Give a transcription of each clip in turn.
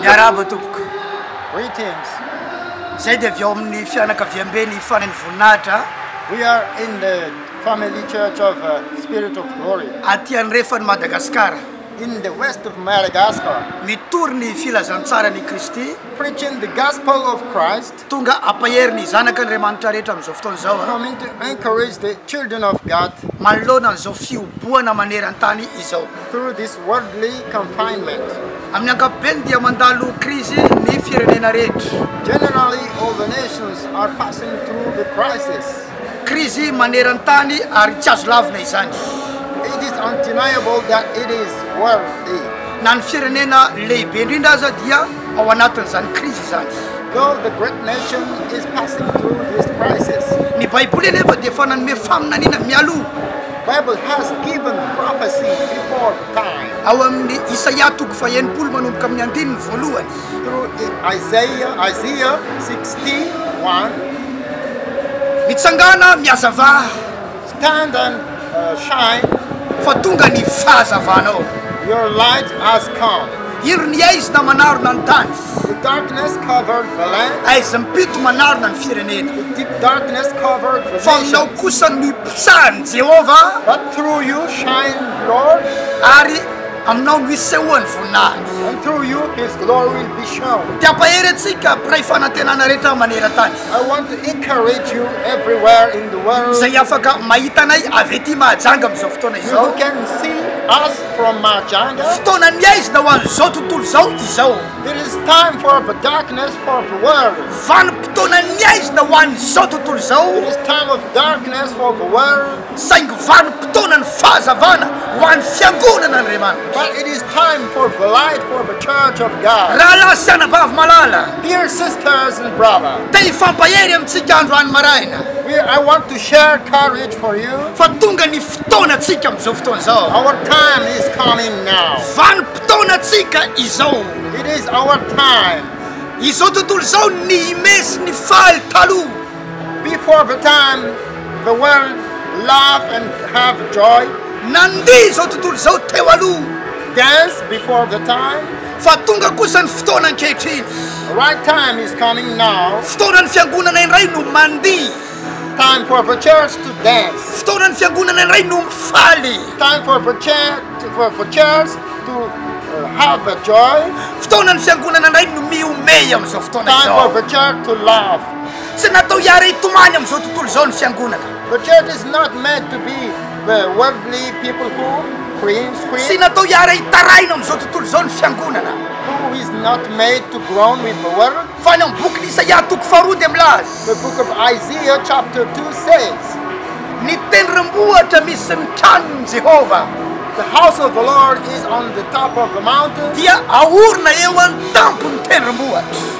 Miarahaba tompoko. Greetings. Zay dia avy ao amin'ny fianakaviambe ny fanan'ny voninahitra. We are in the family church of uh, spirit of glory. Aty andrefan'i Madagasikara. In the west of Madagascar. Mitory ny filazantsara ny Kristy. Preaching the gospel of Christ. Tonga hampahery ny zanaka Andriamanitra rehetra amin'izao fotoana izao. From me to encourage the children of God. Manoloana an'izao fihobohana maneran-tany izao. Through this worldly confinement. Amin'ny ankapobeny dia mandalo krizy ny firenena rehetra. Generally all the nations are passing through the crisis. Krizy maneran-tany ary tsy azo lavina izany. It is undeniable that it is worldly. Na ny firenena lehibe indrindra aza dia. ao anatin'izany krizy izany. Though the great nation is passing through this crisis. Ny Baiboly anefa dia efa nanome faminaniana mialoha. Bible has given prophecy before the time. Ao amin'ny Isaia toko faha-enimpolo manomboka amin'ny andininy voalohany. Through Isaiah, Isaiah 60, 1. Mitsangàna, mihazavà. Standard shine fa tonga ny fahazavanao. Your light has come. Iro ny haizina manarona ny tany. The darkness covered the land. Haizina mpito manarona ny firenena. The deep darkness covered the Fa nations. aminao kosa no iposahan'i Jehovah But through you shine Lord, ary aminao no isehoan'ny voninahiny. and through you His glory will be shown. Dia ampahery antsika mpiray fanantenana rehetra maneran-tany. I want to encourage you everywhere in the world. Izay afaka mahita anay avy ety Mahajanga amin'izao fotoana izao. Who can see us from Mahajanga. Fotoana ny aizina ho an'izao tontolo izao izao. It is time for the darkness for the world. Vanim-potoana ny aizina ho an'izao tontolo izao. It is time of darkness for the world. Saingy vanim-potoana ny fahazavana ho an'ny fiangonan' Andriamanitra. But it is time for light for the church of God. Rahalahy sy anabavy malala. Dear sisters and brother. Te hifampahery amintsika andro any maraina. We, I want to share courage for you. Fa tonga ny fotoanantsika amin'izao fotoana izao. Our time is coming now. Vanim-potoanantsika izao. It is our time. Izao tontolo izao nihime sy nifaly taloha. Before the time the world laugh and have joy. Nandeha izao tontolo izao teo aloha. Dance before the time. Fa tonga kosa ny fotoana ankehitriny. Right time is coming now. Fotoana ny fiangonana indray no mandihy. Time for the church to dance. Fotoana ny fiangonana indray no mifaly. Time for the church for the church to have a joy. Fotoana ny fiangonana indray no mihomehy amin'izao fotoana izao. Time for the church to laugh. Tsy natao hiara-hitomany amin'izao tontolo izao ny Fiangonana. The church is not meant to be the worldly people who cringe, Tsy cringe, natao hiara-hitarahina amin'izao tontolo izao ny Fiangonana. who is not made to groan with the world. Fa ny amin'ny bokin'i Isaia toko faharoa dia milaza, The book of Isaiah chapter 2 says, Ny tendrombohitra misy ny tranon'i Jehovah The house of the Lord is on the top of the mountain, dia aorina eo an-tampon'ny tendrombohitra.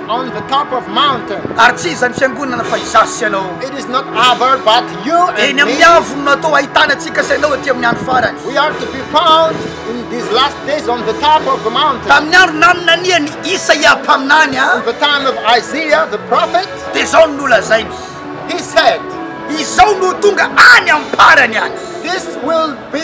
On the top of mountain. Ary tsy izany fiangonana fa izaho sy ianao. It is not other but you and me. Eny amin'ny avony no atao ahitana antsika sy ianao aty amin'ny andro farany. We are to be found in these last days on the top of the mountain. Tamin'ny andro naminanian'i Isaia mpaminany a. In the time of Isaiah the prophet. Dia izao no nolazainy. He said. Izao no ho tonga any am-parany any. This will be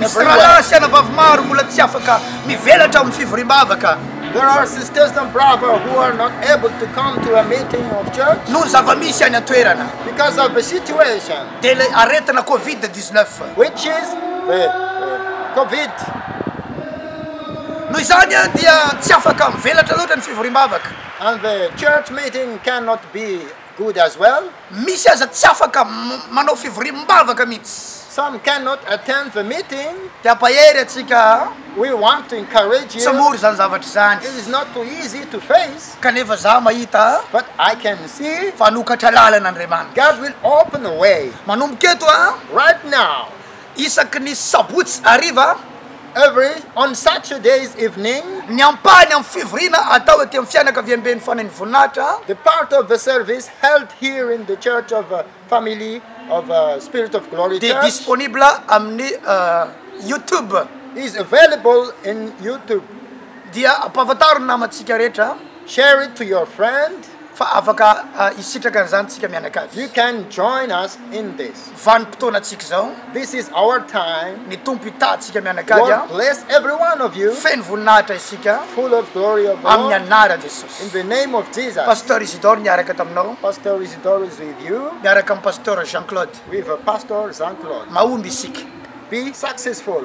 Misy rahalahy sy anabavy maro mbola tsy afaka mivelatra ao amin'ny fivoriam-bavaka. Noho ny zava-misy any an-toerana, dia ilay aretina covid dix-neuf. Noho izany, dia tsy afaka mivelatra loatra ny fivoriam-bavaka. Good as well. Misy aza tsy afaka manao fivoriam-bavaka mihitsy. Some cannot attend the meeting. Te hampahery antsika aho. We want to encourage you. Tsy mora izany zavatra izany. It is not too easy to face. Kanefa izaho mahita. But I can see. Fa hanokatra lalana Andriamanitra. God will open a way. Manomboka eto aho. Right now. Isaky ny sabotsy hariva, every on Saturdays evening. Ny ampahany amin'ny fivoriana atao ety amin'ny fianakaviamben'ny Fanahin'ny Voninahitra. The part of the service held here in the Church of the Family of the Spirit of Glory Church. Dia disponible amin'ny YouTube. Is available in YouTube. Dia ampahafantarin'ny namantsika rehetra. Share it to your friend. Fa afaka hisitraka an'izany isika mianakavy. You can join us in this. Vanim-potoanantsika izao. This is our time. Ny Tompo hitaha antsika mianakavy. Lord bless every one of you. Feno voninahitra isika. Full of glory of the Lord. Amin'ny anaran'i Jesosy. In the name of Jesus. Pasteur Isidore niaraka taminao. Pasteur Isidore is with you. Miaraka amin'i Pasteur Jean Claude. With Pasteur Jean Claude. Mahomby isika. Be successful.